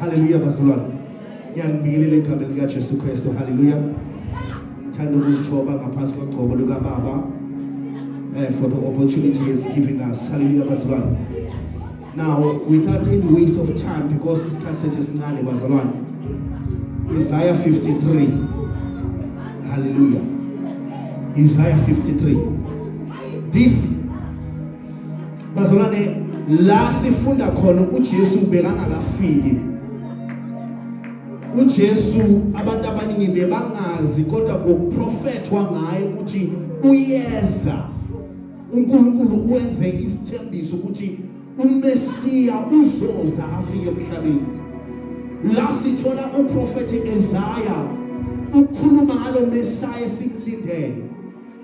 Haleluya bazalwane. Ngiyanibingelela egameni lika Jesu Kristu. Haleluya. Ngithanda ukuzithoba ngaphansi kogcobo luka Baba. Uh, for the opportunity he is giving us. Hallelujah, bazalwane. Now, without any waste of time, because this isikhathi sethu esincane bazalwane. Isaiah 53. Hallelujah. Isaiah 53. This bazalwane la sifunda khona uJesu bekangakafiki uJesu abantu abaningi bebangazi kodwa kokuprofethwa ngaye ukuthi uyeza uNkulunkulu wenze isithembiso ukuthi uMesiya uzoza afike emhlabeni la sithola uprofethi Isaiah ukhuluma ngalo Messiah esimlindele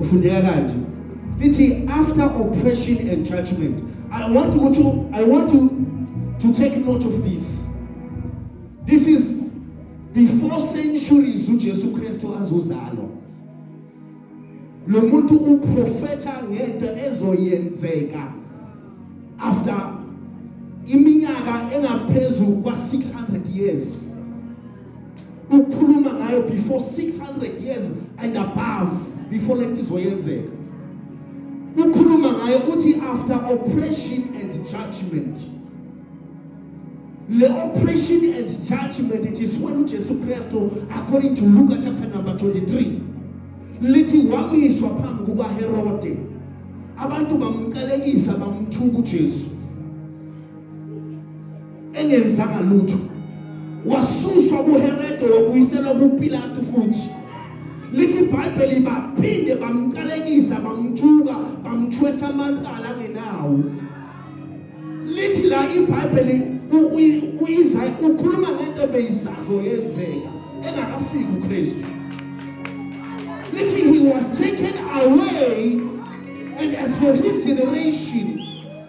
ufundeka kanje lithi after oppression and judgment i want to, to i want to, to take note of this this is before centuries ujesu kristu azozalwa lo muntu uprofetha ngento ezoyenzeka after iminyaka engaphezu kwa-600 years ukhuluma ngayo before 600 years and above before lento izoyenzeka ukhuluma ngayo uthi after oppression and judgment le oppression and judgment it is when uJesu Kristu according to Luke chapter number 23 lithi wamiswa phambi kukaHerode abantu bamqalekisa bamthuka uJesu engenzanga lutho wasuswa kuHerode wabuyiselwa kuPilatu futhi lithi iBhayibheli baphinde bamqalekisa bamthuka bamthwesa amacala angenawo lithi la iBhayibheli uyiza ukhuluma ngento ebeyisazo yenzeka engakafiki uKristu lithi he was taken away and as for his generation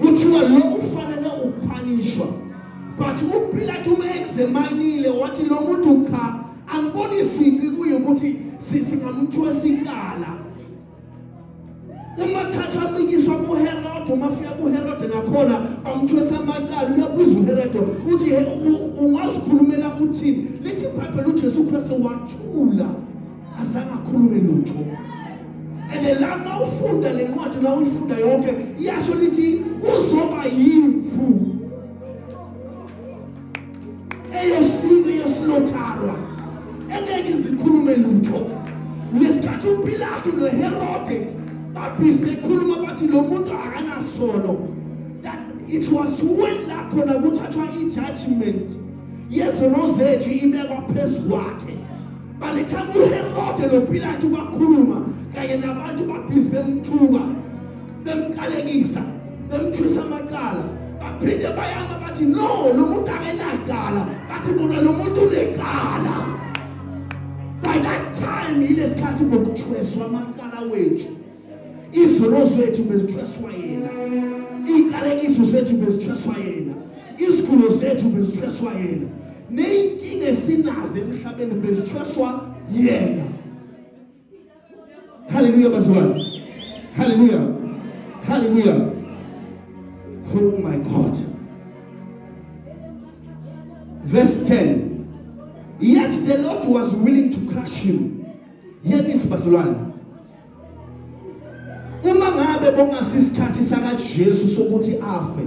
kuthiwa lo ufanele ukupanishwa but upilato uma examinile wathi lo muntu cha angiboni sici kuye ukuthi singamthwesa ikala uma thatha amikiswa kuherode uma fika kuherode nakhona bamthwesa amacala uyabuza uherode uthi ungazikhulumela uthini lithi ibhayibheli ujesu kristu wathula azange akhulume lutho and lana ufunda le ncwadi la uyifunda yonke iyasho lithi uzoba yimvu eyosiko yesilotharwa engeke izikhulume lutho ngesikhathi upilato noherode babhizi bekhuluma bathi lo muntu akanasono it was when la khona kuthathwa i-judgment yezono zethu ibekwa phezu kwakhe By the time uHerode noPilate bakhuluma kanye nabantu babhizi bemthuka bemkalekisa bemthwisa amacala baphinde bayama bathi no lo muntu akenacala bathi bona lo muntu unecala by that time yilesikhathi bokuthweswa amacala wethu izono zethu bezithweswa yena iy'qalekiso zethu bezithweswa yena izigulo zethu bezithweswa yena ney'nkinga esinazo emhlabeni bezithweswa yena haleluya bazalwane haleluya haleluya oh my god verse 10 yet the lord was willing to crush him yet isibazalwane Uma ngabe bongasisikhathi sakaJesu sokuthi afe,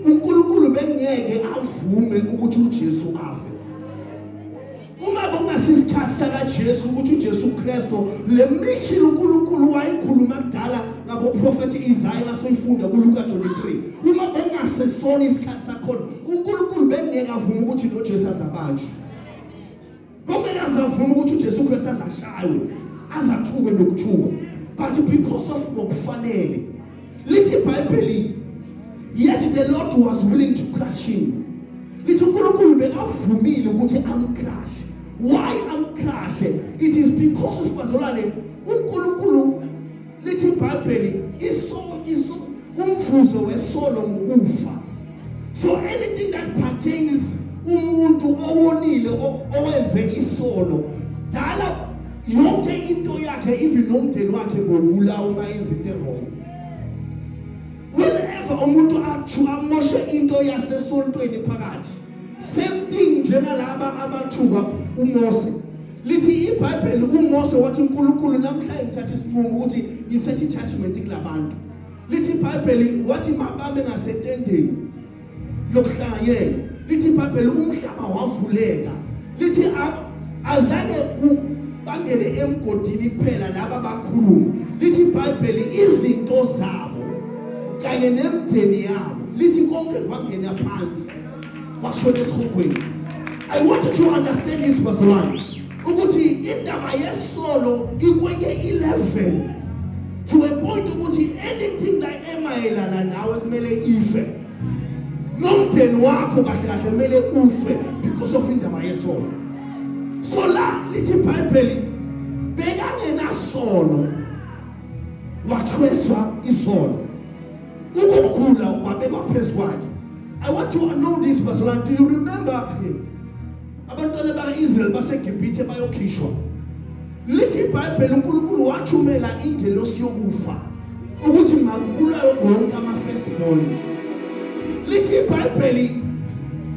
uNkulunkulu bengeke avume ukuthi uJesu afe. Uma bongasisikhathi sakaJesu ukuthi uJesu Kristo le mission uNkulunkulu wayikhuluma kudala ngaboprofethi Isaiah nasoyifunda kuLuka 23. Uma bengasesona isikhathi sakhona, uNkulunkulu bengeke avume ukuthi noJesu azabanjwe. Kumele azavuma ukuthi uJesu Kristu azashaywe, azathuke nokuthuka. But because of ngokufanele. Lithi iBhayibheli yet the Lord was willing to crush him. Lithi uNkulunkulu bekavumile ukuthi amcrushe. Why amcrushe? It is because of bazalwane uNkulunkulu lithi ibhayibheli iso iso umvuzo wesolo ngokufa so anything that pertains umuntu owonile owenze isolo dala yonke into yakhe even nomndeni wakhe bobula uma yenza into wrong whenever umuntu athi amoshe into yasesontweni phakathi same thing njengalaba abathuka uMose lithi iBhayibheli uMose wathi uNkulunkulu namhla ngithatha isinqumo ukuthi ngisethi judgment kulabantu lithi iBhayibheli wathi mababe ngasetendeni lokuhlanganyela lithi iBhayibheli umhlaba wavuleka lithi azange bangene emgodini kuphela laba bakhuluma lithi iBhayibheli izinto zabo kanye nemndeni yabo lithi konke kwangena phansi washona esihogweni i want you to understand this bazalwane ukuthi indaba yesolo ikwenye i-level to a point ukuthi anything that emayelana nawe kumele ife nomndeni wakho kahle kahle kumele ufe because of indaba yesolo so la lithi ibhayibheli bekangenasono wathweswa isono Ukukhula kwabekwa phezu kwakhe. I want to know this bazalwane. Do you remember him? Abantwana baka-Israel baseGibhithe bayokhishwa. Lithi iBhayibheli uNkulunkulu wathumela ingelosi yokufa ukuthi makubulawe wonke ama-firstborn. Lithi iBhayibheli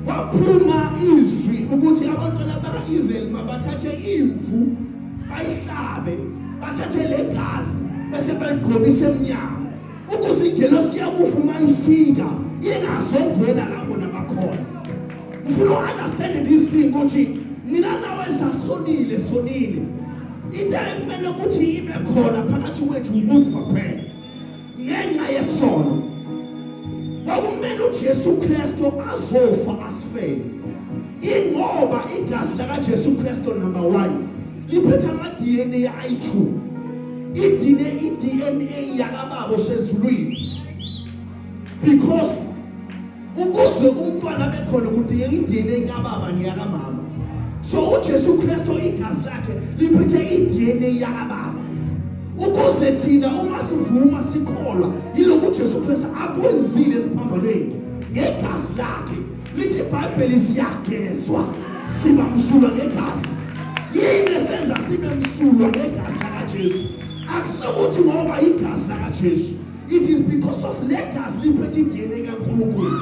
waphuma izwi ukuthi abantwana baka-Israel mabathathe imvu bayihlabe bathathe legazi bese baligqobise emnyango ukuthi ingelosi yakufa uma ifika ingazongena lapho nabakhona ngifuna u-understand this thing ukuthi mina nawe sasonile sonile into ekumele ukuthi ibe khona phakathi kwethu ukufa phela ngenxa yesono kwakumele uJesu Kristu azofa asifele ingoba igazi lakaJesu Kristu number 1 liphethe ama-dna ayi-two idine i-dna yakababa osezulwini because ukuze umntwana abe khona kudingeka i-dna kababa neyakamama so ujesu kristu igazi lakhe liphethe i-dna yakababa ukuze thina uma sivuma sikholwa yiloku ujesu kristu akwenzile esiphambanweni ngegazi lakhe lithi ibhayibheli siyagezwa siba msulwa ngegazi yini esenza sibe msulwa ngegazi lakajesu akusokuthi ngoba igazi lakajesu it is because of le gazi liphethe idna kankulunkulu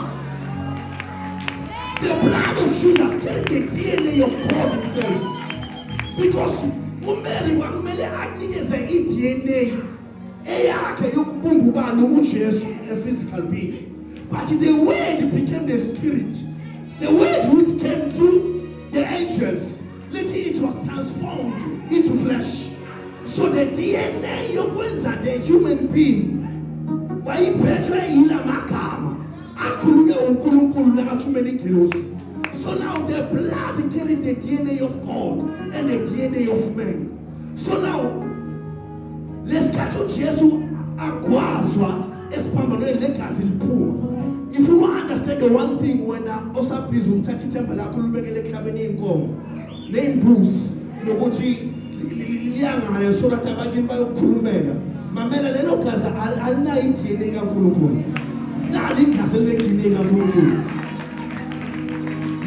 the blood of jesus carried the dna of god himself because umary kwakumele akunikeze idna eyakhe yokubumba ubani uJesu a physical being but the word became the spirit the word which came to the angels lithi it was transformed into flesh so the DNA yokwenza the human being wayiphethwe yila magama akhulunywe uNkulunkulu nakathumela igilosi so now the blood carried the DNA of God and the DNA of man so now lesikhathi uthi Yesu agwazwa esiphambanweni legazi liphuma if you understand the one thing wena osabhizi ukuthatha ithemba lakho lubekele ehlabeni inkomo nembuzi nokuthi liyangale so that abakini bayokukhulumela mamela lelo gazi alinayo iDNA kaNkulunkulu nalo igazi elineDNA kaNkulunkulu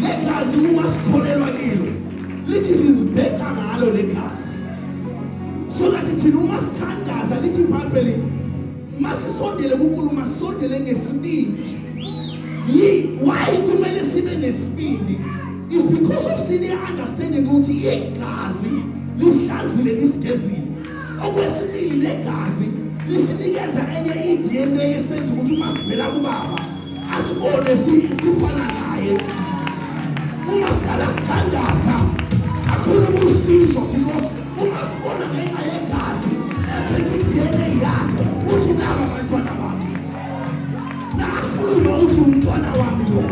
legazi uma sikholelwa kilo lithi sizibheka ngalo legazi so that thina uma sithandaza lithi ibhayibheli masisondele kunkulu masondele ngesibindi yi why kumele sibe nesibindi is because of sine understanding ukuthi igazi lisihlanzile lisigezile okwesibili legazi lisinikeza enye i-dna esenza ukuthi uma sivela kubaba asibone sifana naye uma sidala sithandaza kakhulu kusizo because uma sibona ngenxa yegazi ephethe i-dna yakhe uthi naba bantwana bami nakhuluma uthi umntwana wami lo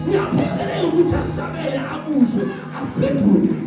uyaphokeleka ukuthi asabele abuzwe aphendule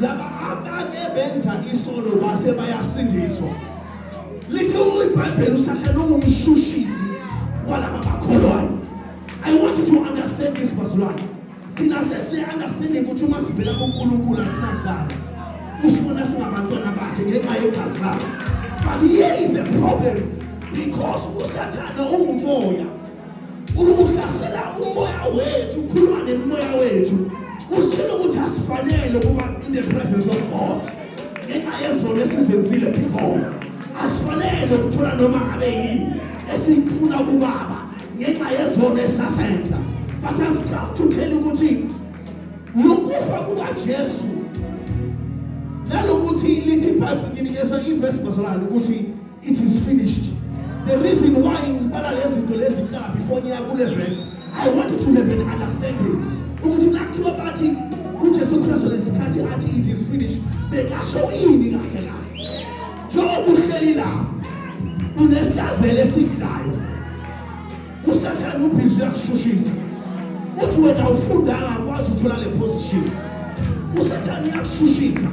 laba abake benza isono base bayasindiswa lithi ibhayibheli usathane ungumshushizi walaba bakholwayo i want you to understand this bazalwane thina sesine-understanding ukuthi uma sivela kunkulunkulu asinadala usibona singabantwana bakhe ngenxa yegazi lakhe but here is a problem because usathane ungumoya Uhlasela umoya wethu, ukhuluma nemoya wethu. Usitshela ukuthi asifanele ukuba in the presence of God. Ngenxa yezono esizenzile before. Asifanele ukuthola noma ngabe yini esifuna kubaba ngenxa yezono esasenza. But I've come to tell you ukuthi lokufa kukaJesu nalokuthi lithi ibhayibheli nginikeza ivesi bazalwane ukuthi It is finished. The reason why ngibala lezi zinto lezi kuqala before ngiya kule verse, I want you to have an understanding ukuthi nakuthiwa bathi uJesu Kristu lesikhathi athi it is finished, bekasho ini kahle kahle. Njengoba uhleli la, unesazelo esidlayo. Kusathane ubhizi uyakushushisa. Uthi wena ufundanga akwazi ukuthola le position. Usathane uyakushushisa.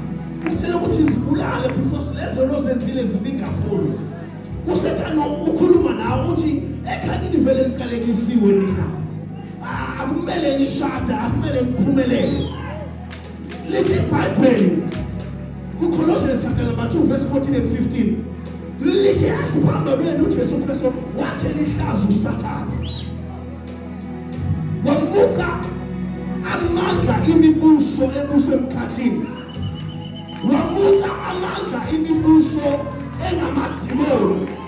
Uthele ukuthi zibulale because lezo lozenzile ziningi kakhulu. Usathane ukhuluma nawe uthi ekhaya livele liqalekisiwe nina. Ah, akumele nishada, akumele niphumelele. Lithi iBhayibheli kuColossians chapter number 2 verse 14 and 15 lithi asiphambanweni uJesu Kristu wathi lihlaza uSathane wamuka amandla imibuso ebusemkhathini wamuka amandla imibuso engamadimoni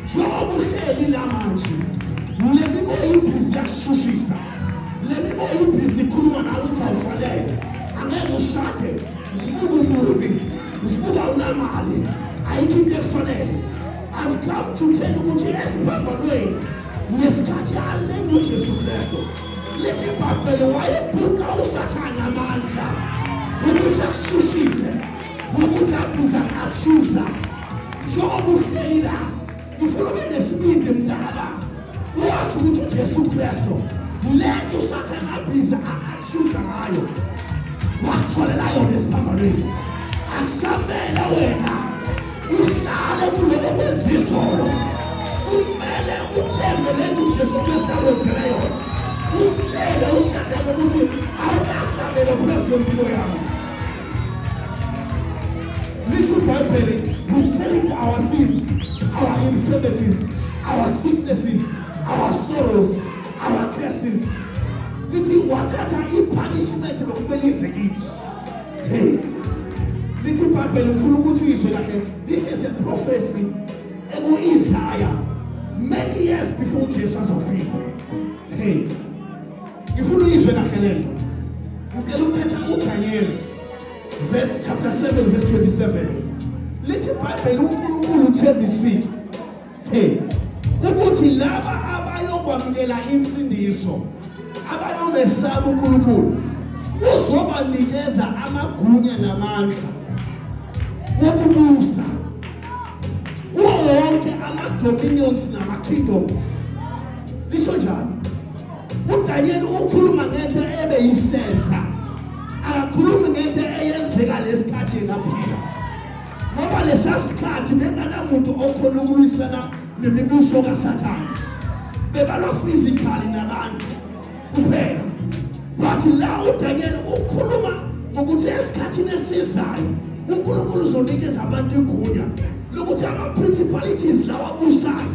njengoba uhleli la manje le mibo yibhizi yakushushisa le mibo yibhizi ikhuluma nawe ukuthi awufanele angeke ushade usibuka umubi usibuka awunamali ayikho into ekufanele I've come to tell you ukuthi esiphambanweni ngesikhathi alenga uJesu Kristu lithi ibhayibheli wayebhuka usathane amandla ukuthi akushushise ukuthi abuza achuza njengoba uhleli la ngifuna ube nesibindi mdala wazi ukuthi ujesu kristu le nto usathane abhiza achuza ngayo watholela yona esiphambanweni akusamele wena uhlale kuloko kwenza izolo kumele uthembe le nto ujesu kristu akwenzele yona umtshele usathane ukuthi awunasabelo phezu kwempilo yakho Little Bible, He's telling our sins, our infirmities, our sicknesses, our sorrows, our curses. Lithi wathatha i-punishment lokumele ize kithi. Hey. Lithi iBhayibheli ngifuna ukuthi uyizwe kahle. This is a prophecy eku-Isaya many years before Jesus was fulfilled. Hey. ngifuna uyizwe kahle le nto ngicela ukuthetha udanyeli chapter 7 verse 27 lithi ibhayibheli unkulunkulu uthembisile hey ukuthi laba abayokwamukela insindiso abayomesaba unkulunkulu uzobanikeza amagunya namandla wokubusa kuwo wonke ama-dominions nama-kingdoms lisho njalo uDaniel ukhuluma ngento ebe yisesa akakhulumi ngento eyenzeka lesikhathi ngaphila ngoba lesasikhathi benganamuntu okhona ukulwisana nemibuso kaSathane bebalo physically nabantu kuphela wathi la uDaniel ukhuluma ukuthi esikhathini esizayo uNkulunkulu uzonikeza abantu igunya lokuthi ama principalities lawa busayo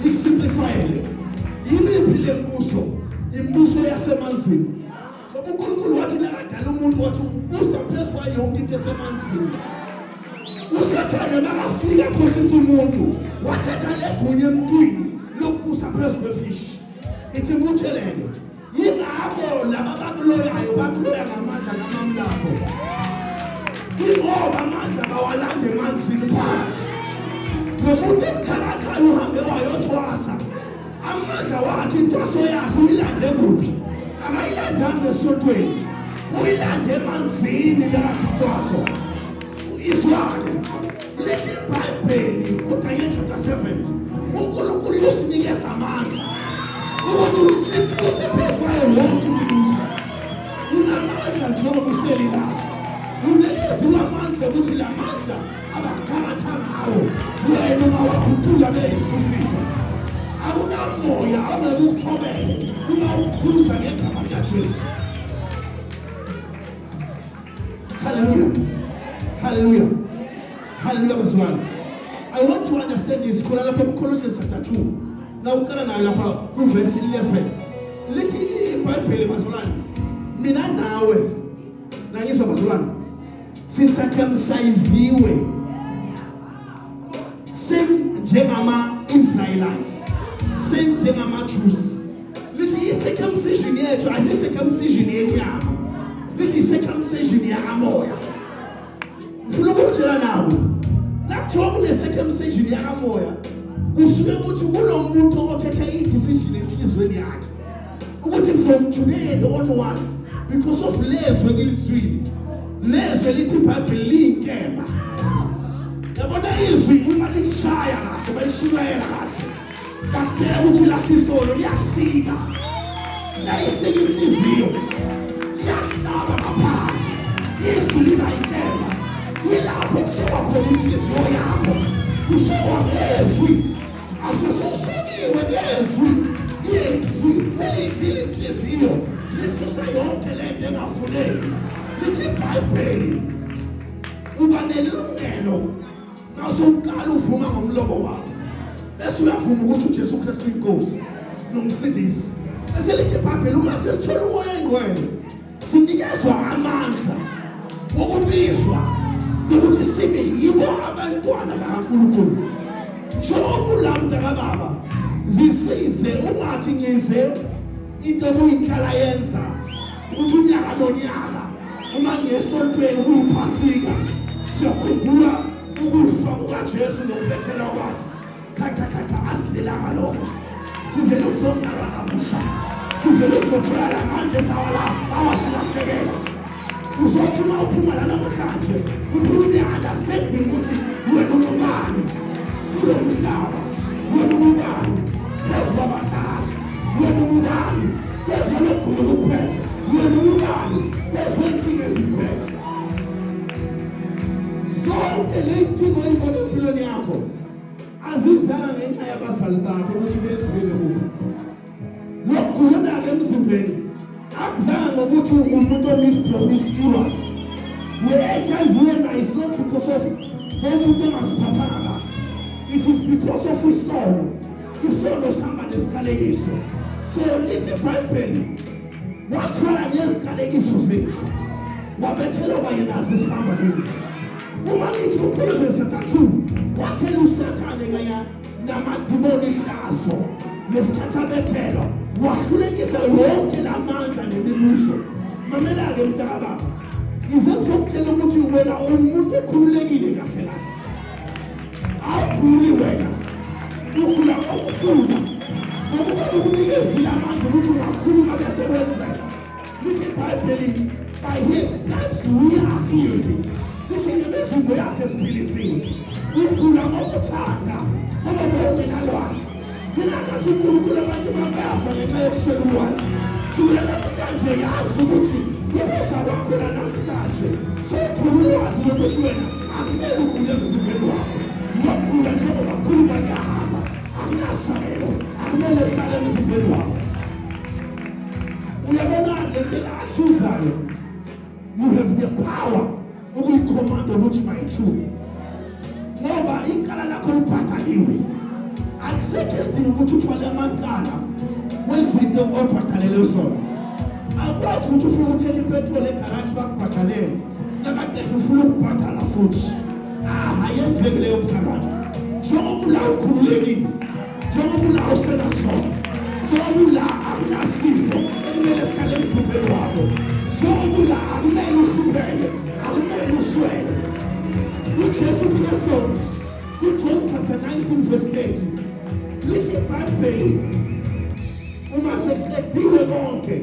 Ngisimplifayele. Yimiphi le mbuso? Imibuso yasemanzini. Ngoba uNkulunkulu wathi nakadala umuntu wathi ubusa phezu kwayo yonke into esemanzini. usathane makafika akhohlisa umuntu wathatha legunya emntwini lokubusa phezu kwefishi ithi imutheleke yingakho laba bakuloyayo bakuloya ngamandla kamamlapho ingoba amandla bawalande emanzini phansi nomuntu emthakathayo uhambe wayothwasa amandla wakhe intwaso yakhe uyilande kuphi akayilandanga esontweni uyilande emanzini kahle intwaso izwake Lesi Bhayibheli uDaniel chapter 7 uNkulunkulu usinikeza amandla ukuthi usiphezu kwayo yonke imibuso. Unamandla njengoba uhleli la. Unikeziwe amandla ukuthi la mandla abakuthatha ngawo wena uma wakhutula beyisibusiso. Akunamoya ongeke ukuthobele uma ukhuza ngegama likaJesu. Hallelujah. Hallelujah. Hallelujah bazwana. I want to understand this khona lapha ku Colossians chapter 2. Na uqala nayo lapha ku verse 11. Lithi iBhayibheli bazwalana. Mina nawe nangizwa bazwalana. Sisakhamsayiziwe. same njengama Israelites same njengama Jews lithi i circumcision yethu asi circumcision yenyama lithi i circumcision yakamoya ngifuna ukutshela nabo nakuthiwa kune circumcision yakamoya kusuke ukuthi kulo muntu othethe i decision enhlizweni yakhe ukuthi from today and onwards because of lezwi engilizwile nezwi elithi ibhayibheli liyinkemba yabona izwi uma likushaya kahle bayishumayela kahle bakutshela ukuthi lasisolo liyasika layisika inhliziyo liyahlaba ngaphansi izwi liba yinkemba yilapho kushiwa khona inhliziyo yakho kushiwa ngezwi Asisoshikiwe nezwi yezwi selidlile inhliziyo lisusa yonke le nto engafuneki lithi ibhayibheli uba nelungelo nasowuqala uvuma ngomlomo wakho bese uyavuma ukuthi ujesu kristu inkosi nomsindisi bese lithi ibhayibheli uma sesithola umoya engcwele sinikezwa amandla okubizwa ukuthi sibe yibo abantwana bakaNkulunkulu njengobulanda kababa zisize ungathi ngize into okuyinhlala yenza ukuthi unyaka nonyaka uma ngesontweni kuyiphasika siyakhumbula ukufa kukaJesu nokubethela kwakhe khatha khatha asilanga lokho size lokuzozalwa kabusha size lokuzotholala manje sawala awasilahlekela uzothi uma uphuma la namhlanje uphuma ne-understanding ukuthi wena ungubani kulo mhlaba wena ungubani phezu kwabathathu wena ungubani phezu kwalogula okuphethe wena ungubani phezu kwenkinga ezikuphethe zonke le nkinga oyibona empilweni yakho azizanga ngenxa yabazali bakhe ukuthi benzile kufa lokugulana-ke emzimbeni akuzanga ngokuthi umuntu omispromiscuous ne-hiv yena is not because of umuntu ongaziphathanga kahle it is because of isono isono sihamba nesiqalekiso so lithi ibhayibheli wathwala neziqalekiso zethu wabethelwa kanye nazo isihamba kuyo Umakithi uphelezo ezintathu wathela usathane kaya namadimoni ihlazo ngesikhathi abethelwa wahlulekisa wonke la mandla nemibuso mamela-ke mntakababa ngize ngizokutshela ukuthi wena uwumuntu ekhululekile kahle kahle awuphuli wena ukhula okufuna ngokuba ukunikeza Lithi iBhayibheli by his stripes we are healed. Lithi ngemivimbo yakhe siphilisiwe. Ngigula ngokuthanda ngoba benginalwazi. Ngingakathi uNkulunkulu abantu bayafa ngenxa yokuswela ulwazi. Sula namhlanje yazi ukuthi ukuza kwakho namhlanje futhi ulwazi lokuthi wena akumele ugule emzimbeni wakho. Ngokugula njengoba kakhulu bayahamba. Akunasabelo. Akumele hlale emzimbeni wakho. uyabona lendlela achuzayo you have the power ukuyikhomanda ukuthi mayithuke ngoba ikala lakho liphathaliwe akusekho isidingo ukuthi uthwale amacala wezinto obhadalele zona akwazi ukuthi ufuna uthela ipetroli egaraji bakubhadalele nakadefa ufuna ukubhadala futhi ah ayenzeki leyo msangano njengoba ula ukhululekile njengoba ula usenasona njengoba ula akunasifo ekumele sihlale emzimbeni wakho njengoba ula akumele uhlupheke akumele uswele ujesu kristu kujohn chapter 19 verse 8 lithi ibhayibheli uma sekuqediwe konke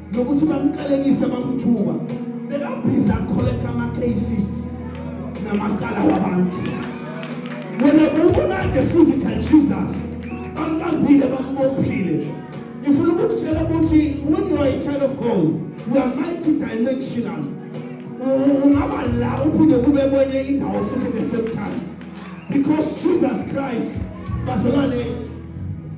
nokuthi bamqalekise bamthuka bekabhiza collect ama cases namacala wabantu wena bewubolade physical jesus bambambile bambophile ngifuna ukukutshela ukuthi when you are a child of god you are multidimensional ungaba la uphinde kube kwenye indawo futhi the same time because jesus christ bazalwane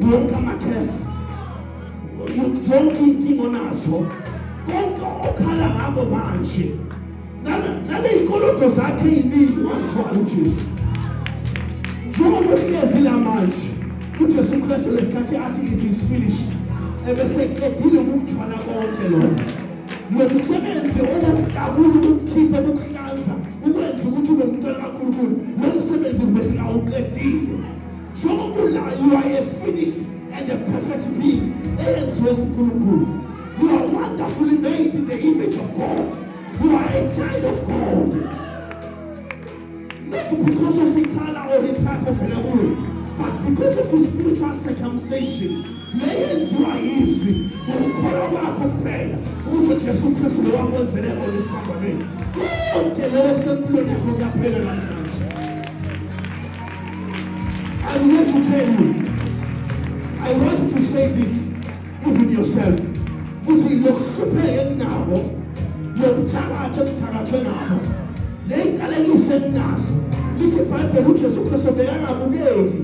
wonke amakhesi zonke iy'nkinga onazo konke okhala ngako manje naley'koloto zakhe ey'ningi wazithwala ujesu njengoba uhlezi la manje ujesu kristu lesikhathi athi it is finished ebeseqedile ukukuthwala konke lona lo msebenzi owokudakula ukukhipha ukuhlanza ukwenza ukuthi ube mntwana kakhulukhulu lo msebenzi besingawuqedile Njengokulla you are a finished and a perfect being eyenziwe nguNkulunkulu. You are wonderfully made in the image of God. You are a child of God. Not because of the color or the type of level, but because of his spiritual circumcision. Leyenziwa yizwi ngokukholwa kwakho kuphela ukuthi uJesu Kristu lo wakwenzele kona isibhabhameni. Konke lokho kusempilweni yakho kuyaphela namhlanje. I'm here to tell you. I want you to say this even yourself. Ukuthi lokuhlupheka enginabo, lokuthakatha okuthakathwe ngabo. Le inkalekise enginazo. Lithi iBhayibheli uJesu Kristu bekangabukeki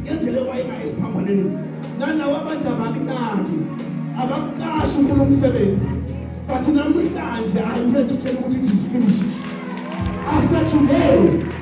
ngendlela ewayekayo esiphambaneni. Nalawa abantu abakunaki, abakuqashi ufuna umsebenzi. But namhlanje I'm here to tell you ukuthi it is finished. After today,